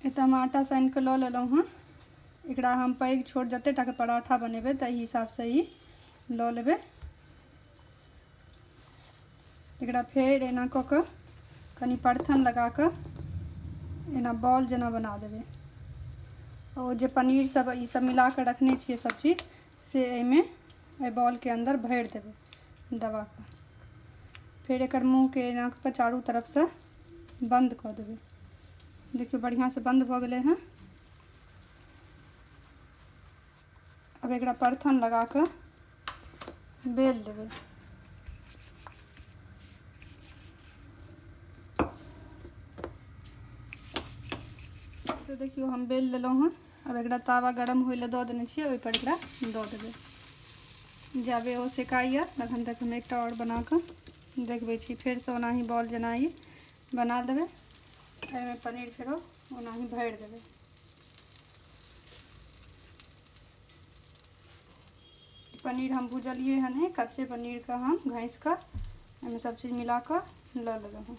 एतऽ हम आटा सानि कऽ लऽ लेलहुँ हँ एकरा हम पैघ छोट जतेक टाके पराठा बनेबै ताहि हिसाबसँ ई लऽ लेबै एकरा फेर एना कऽ कऽ कनि परथन लगा कऽ एना बॉल जेना बना देबै ओ जे पनीर सब ई सब मिला कऽ रखने छियै सब चीज से एहिमे एहि बॉलके अन्दर भरि देबै दबा कऽ फेर एकर मुँहके एना कऽ चारू तरफसँ बन्द कऽ देबै देखियौ बढ़िआँसँ बन्द भऽ गेलै हँ अब एक परथन लगा के बेल लेवे तो देखियो हम बेल लेलो हँ अब एक तावा गरम हो दऽ देने छियै ओहिपर एकरा दऽ देबै जाबे ओ सेकाइए तखन तक हम एकटा आओर बनाकऽ देखबै छी फेरसँ ओनाही बॉल जेना ई बना देबै एहिमे पनीर फेरो ओनाही भरि देबै पनीर हम भुजलिए हन कच्चे पनीरके हम घैस कऽ एहिमे सब चीज मिला कऽ लऽ लेबै हम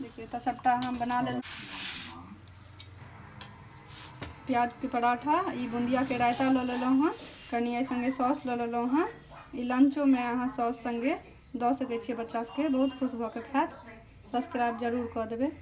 देखिए तो सबटा हम बना ले प्याज के पराठा ई बुंदिया के रायता लो लेलो हन कनी ए संगे सॉस लो लेलो हन ई लंचो में अहाँ सॉस संगे दऽ सके छे बच्चा सबके बहुत खुश भऽ के खायत सब्सक्राइब जरूर कऽ देबे